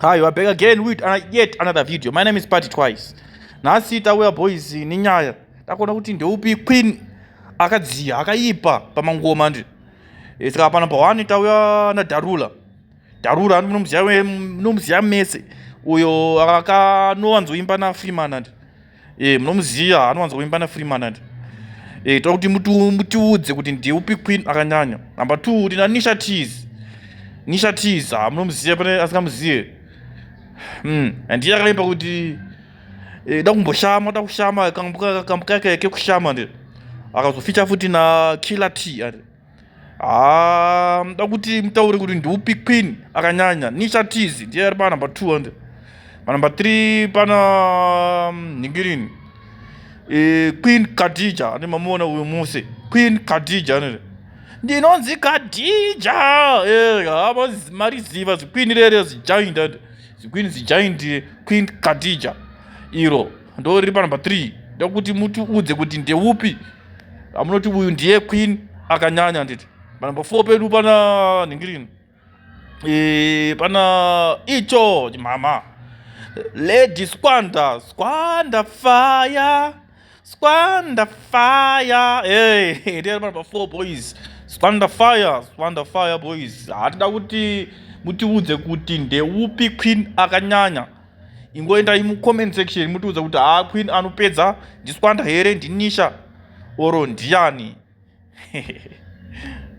Hi, you are back again with uh, yet another video. My name is Party Twice. Nhasi tauya boys nenyaya takuona kuti ndeupi queen akadziya akaipa pamangoma ndi eh, saka pano pawani tauya nadarula darula nomuziya mese uyo akanowanzoimba nafreeman andi Eh, munomuziva anowanza kuimba na Freeman ati. Eh, toda kuti mutu mutiudze kuti ndiye upi queen akanyanya. Number 2 tina Nisha Tease. Nisha Tease, ah munomuziva pane asikamuzive. Hmm, and iye akaimba kuti eh, da kumboshama, da kushama kambuka kambuka kekushama ndi. Akazoficha futi na Killer T ati. haa muda kuti mutaure kuti ndiupi queen akanyanya nisha tizi ndiye ari panumber two ande panumber three pana mm, ningirini e, queen kadija ande mamuona uyo muse queen kadija anere ndinonzi kadija eh, hava mariziva zikwini rere zijaindi ande zikwini zijaindi queen kadija iro ndo riri panumber three ndokuti mutiudze kuti ndeupi amunoti uyu ndiye queen akanyanya nditi panumber four pedu pana nhingirini e, pana icho mama lady squanda squanda fire squanda fire hey, ndiri panumber four boys squanda fire squanda fire boys hatida kuti mutiudze kuti ndeupi queen akanyanya ingoendai mucomment section mutiudza kuti haa queen anopedza ndiswanda here ndinisha oro ndiani